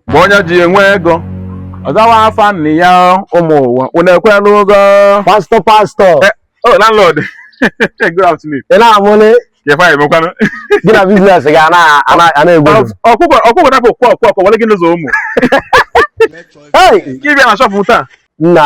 mgbe onye ji enwe ego ọ zawa afa nna ya ụmụ ụwa unu ekwela ụgọ pastor pastor oh landlord good afternoon ị na-amụlị ya fa emekwanụ gị na business ga na-egbu ọkụkọ ọkụkọ dapụ kwọ kwọ kwọ were gị n'ụzọ ụmụ ị bịa na shop m taa nna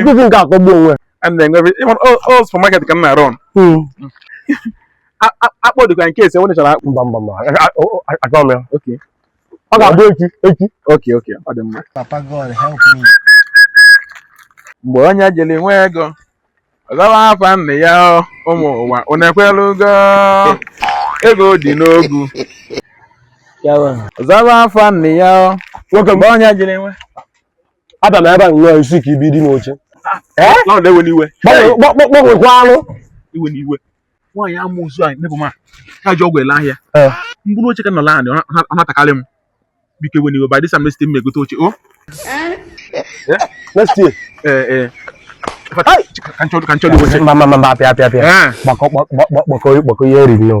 nkuzi nke akọgbu onwe supermarket ka m na-run hmm. akpụ dịkwa in case onye chọrọ akpụ mba mba mba achọrọ m ya ọ ga-abụ echi echi okay okay ọ dị mma papa god help me mgbe onye jiri nwe ego ọ zawa afa nna ya ụmụ ụwa unu ekwela ugo ego dị n'ogwu ọ zawa afa nna ya nwoke mgbe onye jiri nwe abịa m ebe a nnọọ isi ka ibi dị n'oche gbanwekwanụ ewena iwe nwaanyị amoosu anyị nebụ ma ha ji ọgwụ ele ahịa mkpụrụ oche ka nọ laanị ọ na-atakarị m biko ewena iwe by this time next time egote oche o next year ee ka nchọrọ iwe mba mba mba apịa apịa apịa gbakọ ihe e riri n'o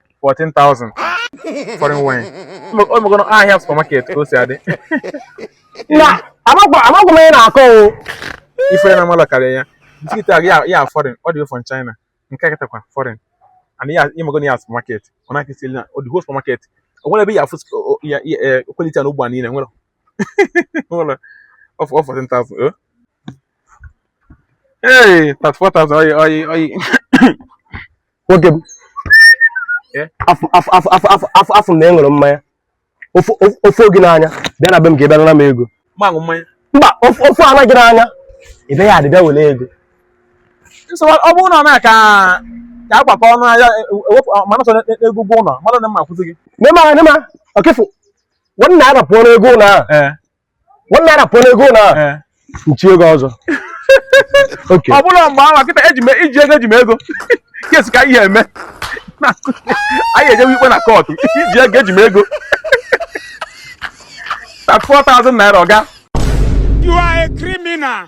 14,000 foreign wine omegoro ahịa supermarket ka o si adị nna amakwa m ihe ị na-akọ o ife na mmadụ karịa ya biscuit ya foreign all the way from China nke kịtakwa foreign and ya imegoro ya supermarket ọ na-akịsị na the whole supermarket o nwere ebe ị ya-afụ ya quality ya n'Igbo niile nwere nwere ọ 14,000 Hey, that's 4,000. I, I, I nwoke m afụ m na ị ṅụrụ mmanya ọ fụọ gị n'anya bịa na be m ka ị bịa naa m ego mba ọ fụọna gị n'anya ị bịa yard bịa were ego ọ bụrụ na ọ na-aka ka a gbakọ ọnụ ahịa ewepụ mana sọ n'ego ụgwọ ụlọ mmadụ na m ma kwụzi gị never never ọkịfụ one naira pụọ n'ego ụlọ ahụ one naira pụọ n'ego na Eh. nchi ego ọzọ okay ọ bụrụ mgbe ahụ kịta eji me- i ji ego eji m ego kesi ka ihe eme Na- anyị ejewe ikpe na court i ji ego eji m ego that's 4000 naira oga You are a criminal.